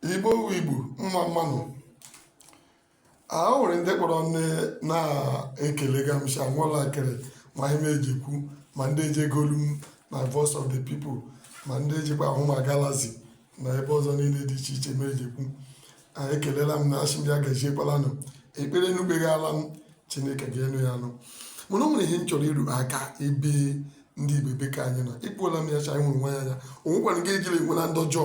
igbo igbo mma mma nụ o nwere ndị kpọrọ nne na-ekele gamsha nwala akịrị ma ihe eji kwu ma ndị eji ege olu m na voice of the people ma ndị ejikwa ahụ m na Galaxy na ebe ọzọ niile dị iche iche ma eji kwu ekelela m na asị m ya gaziekwalanu ekpere unu kpegala m chineke ga-anụ ya anụ mana o nwere ihe m chọrọ ịrụ aka ebe ndị igbo ebe ka anyị nọ ekwuola m ya cha nwere nwa ya anya o nwekwara nke ejiri enwela ndọjọ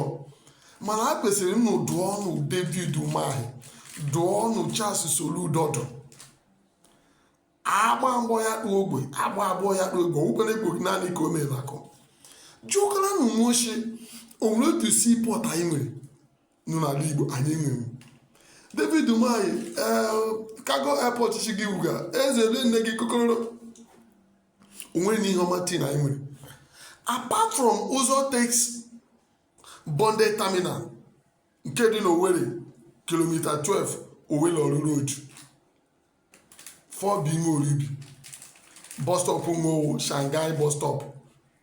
mana a kwesịrị m dụọ ọnụ david umahi dụọ ọnụ charles soludodo agba mbụ ya kpụ ogwe agba abụọ ya kpụ ogwe onwekwara ogwe naanị ka o mere akụ jụkara na nwochi o nwere otu seaport anyị nwere nọ n'ala igbo anyị nwere david umahi ee cargo airport chi gị wuga eze ele nne gị kokororo o nwere na ihe ọma tii na anyị nwere apart from Uzotex bonded terminal nke dị n'Owerri kilomita 12 Owerri Orlu Road fọbụ ime Orieubi bus stop ma ọ wụ Shanghai bus stop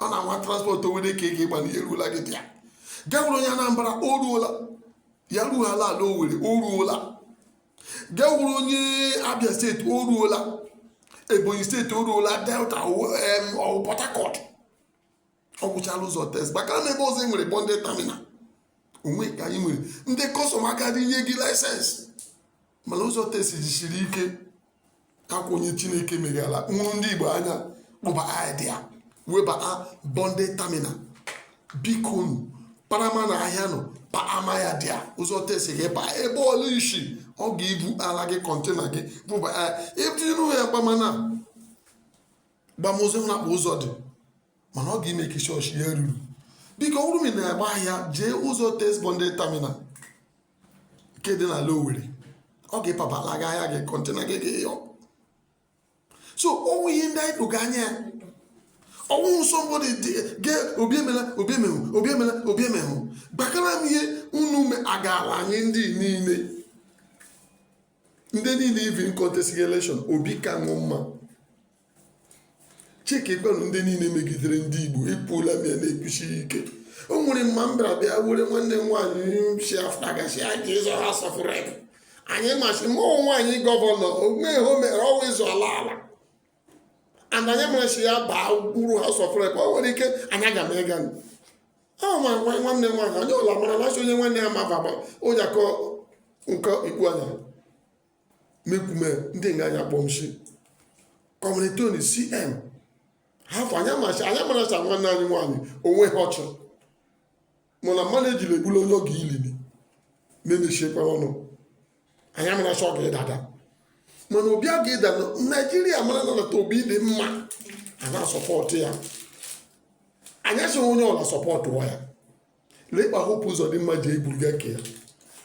ọ na-anwa transport Owerri ka ị ga-ịgba n'ihe eruola gị dị ya gị wụrụ onye Anambra o ruola ya ruo ala ala Owerri o ruola gị wụrụ onye Abia steeti o ruola Ebonyi steeti o ruola Delta ọ wụ Port Harcourt ọ wụchala Uzotex maka na ebe ọzọ e nwere bonded terminal onwe ka anyị nwere ndị custom aka dị nye gị license mana Uzotex jisiri ike akwa onye chineke meghela nwụrụ ndị igbo anya kpụba idea webata bonded terminal bikonu parama na ahịa nọ pa ama ya dị a Uzotex gị pa ebe ọla isi ọ ga-ebu ala gị container gị bụba etinụ ya gbamana gbamozi na-akpụ ụzọ dị mana ọ ga-eme ka chọọchị ya ruru biko ọ bụrụ na agba ahịa jee Uzotex bonded terminal nke dị n'ala Owerri ọ ga-epabala gị ahịa gị container gị gị yọ so ọ wụ ihe ndị anyị lụga anya ya ọ wụ somebody dị ge obi emehụ gbakara m ihe unu me agaala anyị ndị niile ndị niile even contest election obi ka unu mma chike gwanụ ndị niile megidere ndị igbo ekwuola m ya na-ekwusi ike o nwere man bịara bịa were nwanne m nwaanyị si after gasị a ga-azọ House of Rep anyị masị mụ nwaanyị gọvanọ omeghe o mere ọwa ịzụ ala ala and anyị masị ya baa buru House of Rep o nwere ike anyị aga m ịga ahụ ma nwa nwanne m nwaanyị onye ọla mara na onye nwanne ya ma baba onye akọ nke ikpu anya mekwume ndị nga anyị kpọmshi kọmunitoni cm hapụ anyị mara sị nwanne anyị nwaanyị onwe ha ọchụ mana mmadụ ejiri egbula onye oge ilili na-emechikwa ọnụ anyị mara sị ọ ga-edada mana obi a ga-eda na naijiria mara na nata obi dị mma a na-asupport ya anyị sịrị onye ọla support ya lee ịkpa hope uzodimma ji egburu gị eke ya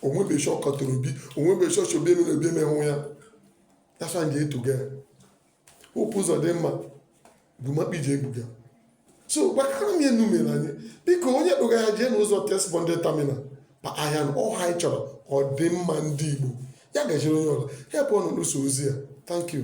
onwebe shọ kọtara obi onwebe shọ shobi emere obi emenwụ ya yasa nje etuga ya hope uzodimma bụ makpa iji egbuga so gbakara m ya enu mere anyị biko onye kpụga ya jee n'ụzọ test bonded terminal pa ahịa na ọha anyị chọrọ ọdịmma ndị igbo ya gajere onye ọla help ọnụ n'ụsọ ozi ya thank you